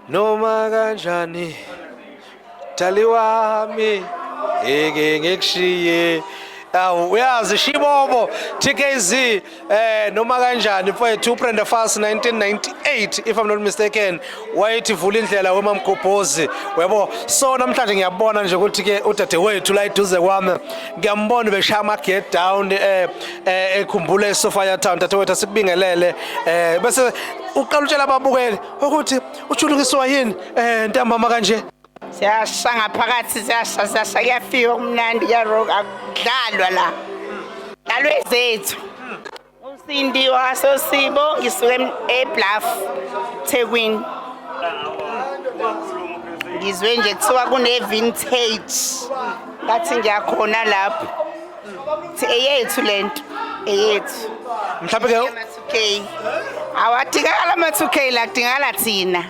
noma kanjani dali wami ngeke ngikushiye awu uyazi shibobo tkz eh noma kanjani mfowethu ubrenda fast 1998 if i'm not mistaken wayethi vula indlela wemamgobhozi uyabo so namhlanje ngiyabona nje ukuthi ke udadewethu la eduze kwami ngiyambona beshaya ama-get down eh, eh ekhumbule esofaya town dadewethu asikubingelele eh bese uqala utshela ababukeli ukuthi ushulukiswa yini eh ntambama kanje siyasha ngaphakathi siyasha siyasha kuyafika kumnandi kuyarock akudlalwa la dlalwe zethu usindi wasosibo ngisuke ebluff thekwini ngizwe nje kuthiwa kune-vintage ngathi ngiyakhona lapho thi eyethu le nto eyethu mhlawumbe ke Okay. Awadingakala ama 2K la kudingakala thina.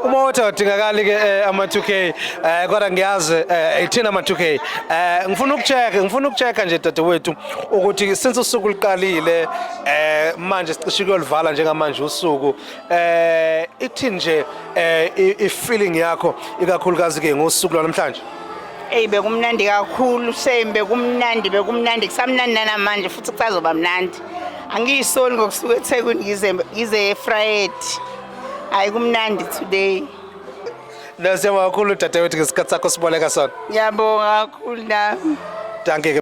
Uma uthi awadingakali ke eh, ama 2K eh kodwa ngiyazi eh ithina ama 2K. Eh ngifuna ukucheck, ngifuna ukucheck nje dadewethu ukuthi since usuku liqalile eh manje sicishe kuyolivala njengamanje usuku eh ithi nje eh i feeling yakho ikakhulukazi ke ngosuku lwanamhlanje. Ey bekumnandi kakhulu shame bekumnandi bekumnandi kusamnandi namanje futhi kusazoba mnandi. angiyisoli ngokusuka ethekwini ngize ngize efrayedi hayi kumnandi today Nda siyabonga kakhulu dadewethu ngesikhathi sakho siboleka sona. ngiyabonga kakhulu nami Dankie ke.